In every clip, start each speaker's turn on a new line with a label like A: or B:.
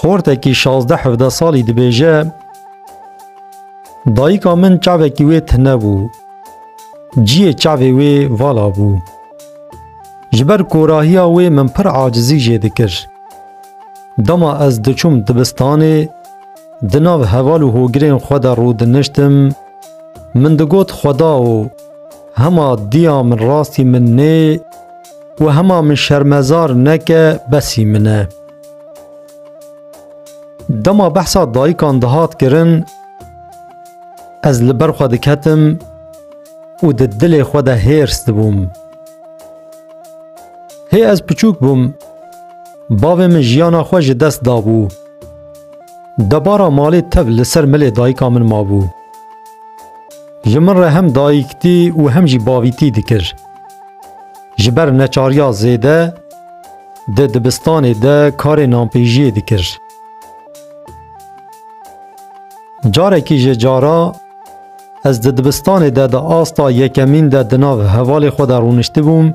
A: Xortekî şazdeh hevdeh salî dibêje, Dayika min çavekî wê tune bû. Ciyê çavê wê vala bû. Ji ber korahiya wê min pir acizî jê dikir. Dema ez diçûm dibistanê, di nav heval û hogirên xwe de rûdiniştim, min digot xwedao Hema diya min rastî min nê û hema min şermezar neke besî min e. Dema behsa dayikan dihat kirin ez li ber xwe diketim û di dilê xwe de hêrs dibûm. Hê ez piçûk bûm, bavê min jiyana xwe ji dest dabû. Debara malê tev li ser milê dayika min mabû. Ji min re hem dayîktî û hem jî bavîtî dikir. Ji ber neçariya zêde di dibistanê de karê nanpêjiyê dikir. Carekî ji cara ez di dibistanê de di asta yekemîn de di nav hevalê xwe de rûniştibûm,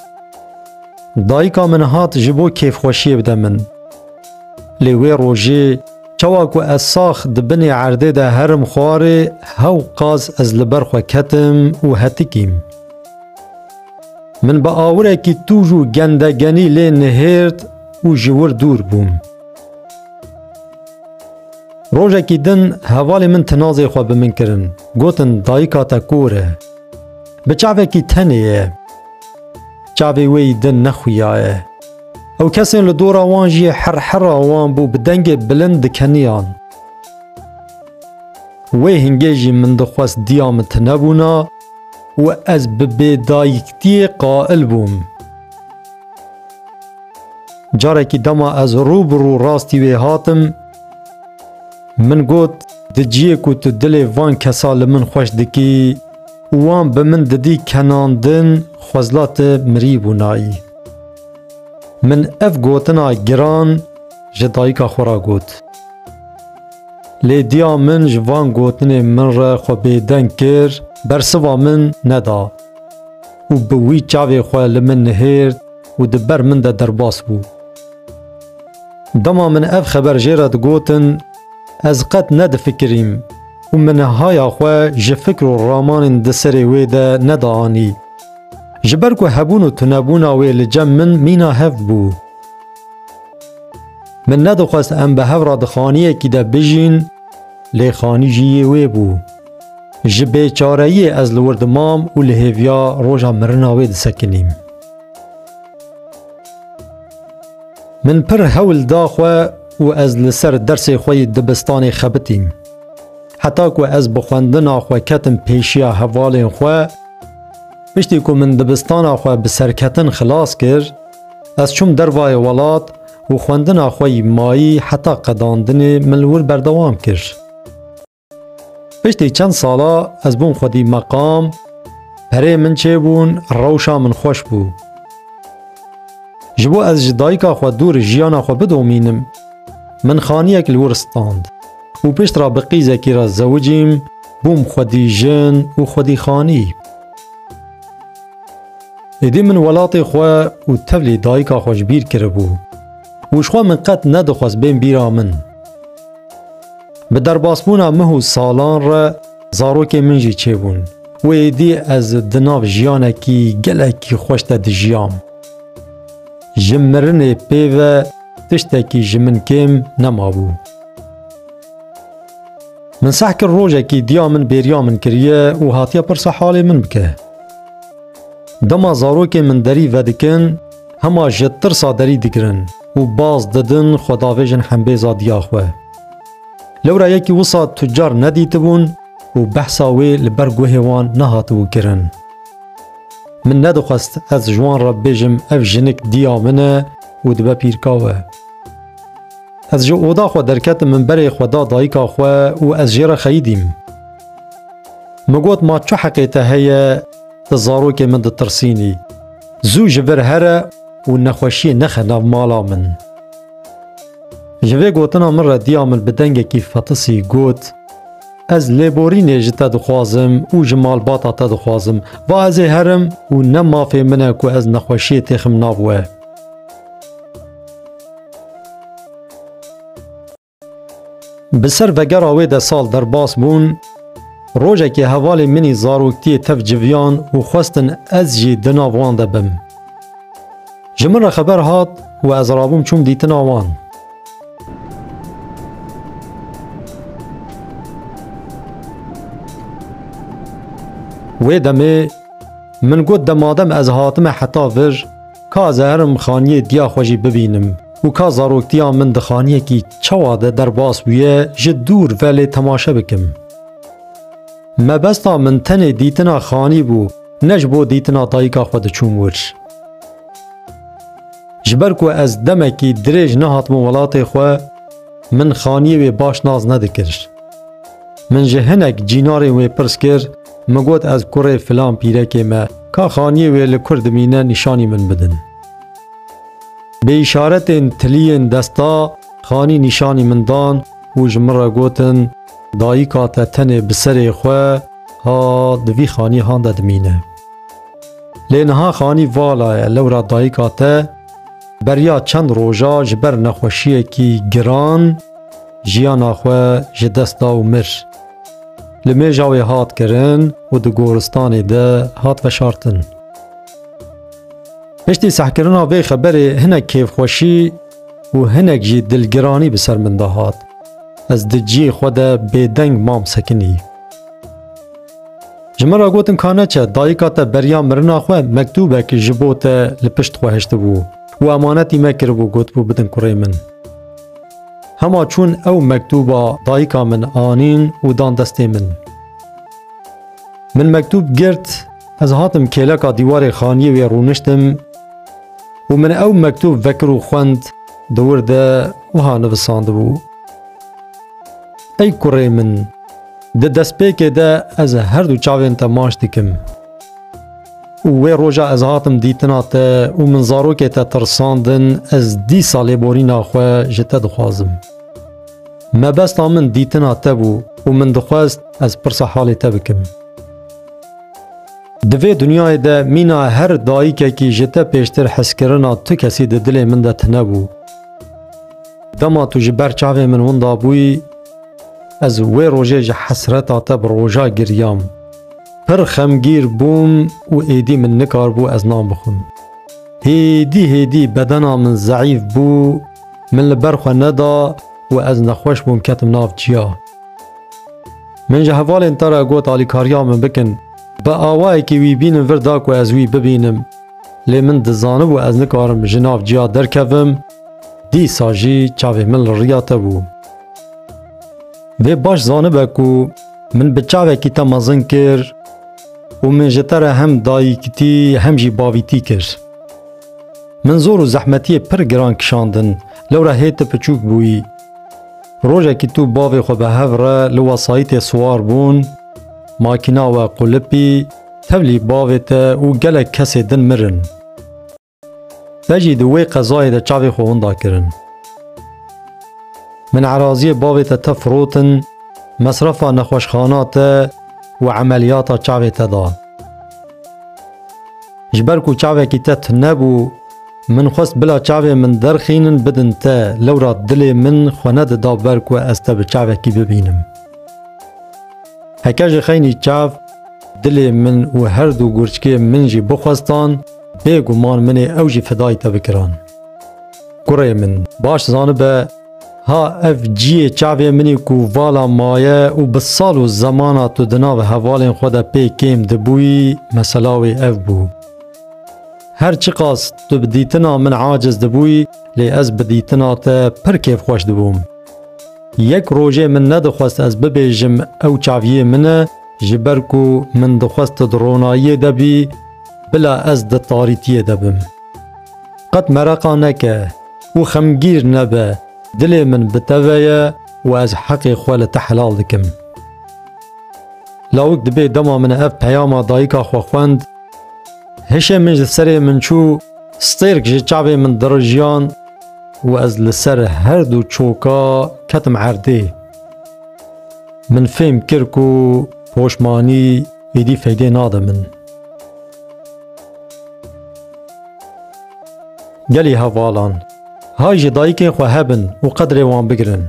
A: dayika min hat ji bo kêfxweşiyê bide min. Lê wê rojê Çawa ku ez sax di binê erdê de herim xwarê, hew qas ez li ber xwe ketim û hetikîm. Min bi awirekî tûj û gendegenî lê nihêrt û ji wir dûr bûm. Rojekî din hevalê min tinazê xwe bi min kirin, gotin dayika te kor e. Bi çavekî tenê ye. Çavê wê yî din nexuyaye. Ew kesên li dora wan jî herhera wan bû bi dengê bilind dikeniyan. Wê hingê jî min dixwest diya min tunebûna û ez bi bêdayiktiyê qail bûm. Carekî dema ez rû bi rû rastî wê hatim, min got, Di ciyê ku tu dilê van kesa li min xweş dikî û wan bi min didî kenandin xwezla tu mirî bûnayî. Min ev gotina giran ji dayika xwe re got. Lê diya min ji van gotinê min re xwe bêdeng kir, bersiva min neda û bi wî çavê xwe li min nihêrt û di ber min de derbas bû. Dema min ev xeber jê re digotin, ez qet nedifikirîm û min haya xwe ji fikr û ramanên di serê wê de neda anî. Ji ber ku hebûn û tunebûna wê li cem min mîna hev bû. Min nedixwest em bi hev re di xaniyekî de bijîn, lê xanî jî yê wê bû. Ji bêçareyiyê ez li wir dimam û li hêviya roja mirina wê disekinîm. Min pir hewl da xwe û ez li ser dersê xwe yê dibistanê xebitîm. Heta ku ez bi xwendina xwe ketim pêşiya hevalên xwe, Piştî ku min dibistana xwe bi serketin xilas kir, ez çûm dervayê welat û xwendina xwe yî mayî heta qedandinê min li wir berdewam kir. Piştî çend sala ez bûm xwedî meqam, perê min çêbûn, rewşa min xweş bû. Ji bo ez ji dayika xwe dûr jiyana xwe bidomînim, min xaniyek li wir stand û pişt re bi qîzekî re zewicîm, Bûm xwedî jin û xwedî xanî. Êdî min welatê xwe û tevlî dayika xwe ji bîr kiribû û jixwe min qet nedixwest bên bîra min. Bi derbasbûna mih û salan re zarokê min jî çêbûn û êdî ez di nav jiyanekî gelekî xweş de dijiyam. Ji mirinê pê ve tiştekî ji min kêm nemabû. Min seh kir rojekî diya min bêriya min kiriye û hatiye pirsa halê min bike. Dema zarokên min derî vedikin, hema ji tirsa derî digirin û baz didin xwe davêjin hembêza diya xwe. Lewra yekî wisa tucar nedîtibûn û behsa wê li ber guhê wan nehatibû kirin. Min nedixwest ez ji wan re bêjim ev jinik diya min e û dibe pîrkawe. Ez ji oda xwe derketim min berê xwe da dayika xwe û ez jê re xeyidîm. Min got ma çi heqê te heye tu zarokê min ditirsînî. Zû ji vir here û nexweşiyê nexe nav mala min. Ji vê gotina min re diya min bi dengekî fetisî got, Ez lêborînê ji te dixwazim û ji malbata te dixwazim. Va ez ê herim û ne mafê min e ku ez nexweşiyê têxim nav we. Bi ser vegera wê de sal derbas bûn, rojekê hevalê min ê zaroktiyê tev civiyan û xwestin ez jî di nav wan de bim. Ji min re xeber hat û ez rabûm çûm dîtina wan. Wê demê min got demadem ez hatime heta vir, Ka zehirim xaniyê diya xwe jî bibînim û ka zaroktiya min di xaniyekî çawa de derbas bûye ji dûr ve lê temaşe bikim. Mebesta min tenê dîtina xanî bû ne ji bo dîtina dayika xwe diçûm wir. Ji ber ku ez demekî dirêj nehatibûm welatê xwe min xaniyê wê baş nas nedikir. Min ji hinek cînarên wê pirs kir Min got ez kurê filan pîrekê me ka xaniyê wê li kur dimîne nîşanî min bidin. Bi îşaretên tiliyên desta xanî nîşanî min dan û ji min re gotin dayika te tenê bi serê xwe ha di vî xanihan de dimîne. Lê niha xanî vala ye lewra dayika te beriya çend roja ji ber nexweşiyekî giran jiyana xwe ji dest da û mir. Li Mêjawê hat kirin û di goristanê de hat veşartin. Piştî sehkirina vê xeberê hinek kêfxweşî û hinek jî dilgiranî bi ser min de hat. Ez di cihê xwe de bêdeng mam sekinî. Ji min re gotin ka neçe dayika te beriya mirina xwe mektûbek ji bo te li pişt xwe hiştibû û emanetî me kiribû gotibû bidin kurê min. Hema çûn ew mektûba dayika min anîn û dan destê min. Min mektûb girt, ez hatim kêleka dîwarê xaniyê wê rûniştim û min ew mektûb vekir û xwend di wir de wiha nivisandibû. Ey kurê min, di destpêkê de ez her du çavên te maş dikim. û wê roja ez hatim dîtina te û min zarokê te tirsandin ez dîsa lêborîna xwe ji te dixwazim. Mebesta min dîtina te bû û min dixwest ez pirsa halê te bikim. Di vê dinyayê de mîna her dayikekî ji te pêştir heskirina tu kesî di dilê min de tine bû. Dema tu ji ber çavê min winda bûyî, ez wê rojê ji hesreta te bi roja giryam. Pir xemgîr bûm û êdî min nikaribû ez nan bixwim. Hêdî hêdî bedena min zeîf bû, min li ber xwe neda û ez nexweş bûm ketim nav çiya. Min ji hevalên te re got alîkariya min bikin, bi awayekî wî bînin vir da ku ez wî bibînim. Lê min dizanibû ez nikarim ji nav çiya derkevim, dîsa jî çavê min li riya te bû. Vê baş zanibe ku Min bi çavekî te mezin kir û min ji te re hem dayîkitî hem jî bavîtî kir. Min zor û zehmetiyê pir giran kişandin, lewra hê tu piçûk bûyî. Rojekî tu bavê xwe bi hev re li wesayîtê siwar bûn, makîna we qulipî, tevlî bavê te û gelek kesê din mirin. Te jî di wê qezayê de çavê xwe winda kirin. Min eraziyê bavê te te firotin, mesrefa nexweşxana te û emeliyata çavê te da. Ji ber ku çavekî te tune bû, min xwest bila çavê min derxînin bidin te, lewra dilê min xwe nedida ber ku ez te bi çavekî bibînim. Heke ji xeynî çav dilê min û her du gurçkê min jî bixwestan, Bê guman min ê ew jî fidayê te bikiran. Kurê min, baş zanibe ha ev ciyê çavê min ê ku vala maye û bi sal û zemana tu di nav hevalên xwe de pê kêm dibûyî, mesela wê ev bû. Her çiqas tu bi dîtina min aciz dibûyî, lê ez bi dîtina te pir kêfxweş dibûm. Yek rojê min nedixwest ez bibêjim ew çaviyê min e, ji ber ku min dixwest tu di ronayiyê de bî, Bila ez di tarîtiyê de bim. Qet mereqa neke û xemgîr nebe, dilê min bi te ve ye û ez heqê xwe li te helal dikim. Lawik dibê dema min ev peyama dayika xwe xwend, hişê min ji serê min çû, stêrk ji çavê min dirijiyan û ez li ser her du çoka ketim erdê. Min fêm kir ku poşmanî êdî feydê nade min. Gelê hevalan, hay ji dayikên xwe hebin û qedrê wan bigirin.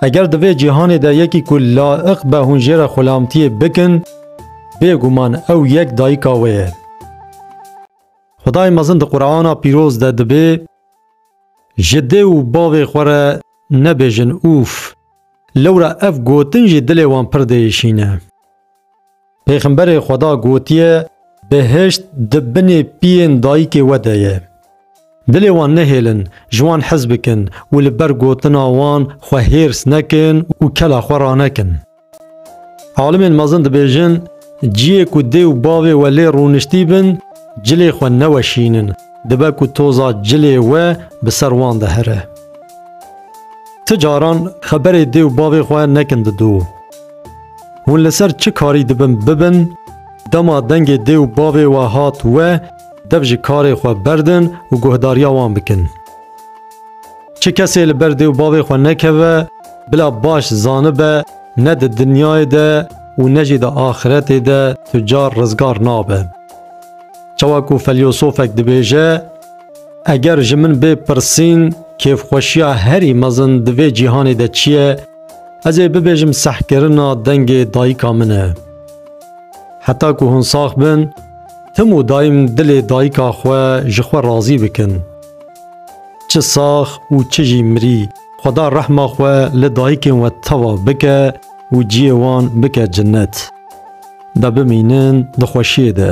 A: Eger di vê cîhanê de yekî ku laiq be hûn jê re xulamtiyê bikin, bêguman ew yek dayika wê ye. Xwedayê mezin di Qur'ana pîroz de dibê ji dê û bavê xwe re nebêjin ûf. Lewra ev gotin jî dilê wan pir diêşîne. Pêxemberê Xweda gotiye, Behişt di binê piyên dayikê we de ye. Dilê wan nehêlin, ji wan hez bikin û li ber gotina wan xwe hêrs nekin û kela xwe ranekin. Alimên mezin dibêjin, Ciyê ku dê û bavê we lê rûniştî bin, cilê xwe neweşînin, dibe ku toza cilê we bi ser wan de here. Ti caran xeberê dê û bavê xwe nekin didu. Hûn li ser çi karî dibin bibin, dema dengê dê û bavê we hat we, dev ji karê xwe berdin û guhdariya wan bikin. Çi kesê li ber dê û bavê xwe nekeve, bila baş zanibe ne di dinyayê de û ne jî di axiretê de tu car rizgar nabe. Çawa ku felyosofek dibêje, Eger ji min bê pirsîn kêfxweşiya herî mezin di vê cîhanê de çi ye, Ez ê bibêjim sehkirina dengê dayika min e. Heta ku hûn sax bin, tim û daîm dilê dayika xwe ji xwe razî bikin. Çi sax û çi jî mirî, xweda rehma xwe li dayikên we teva bike û ciyê wan bike cinnet. De bimînin di xweşiyê de.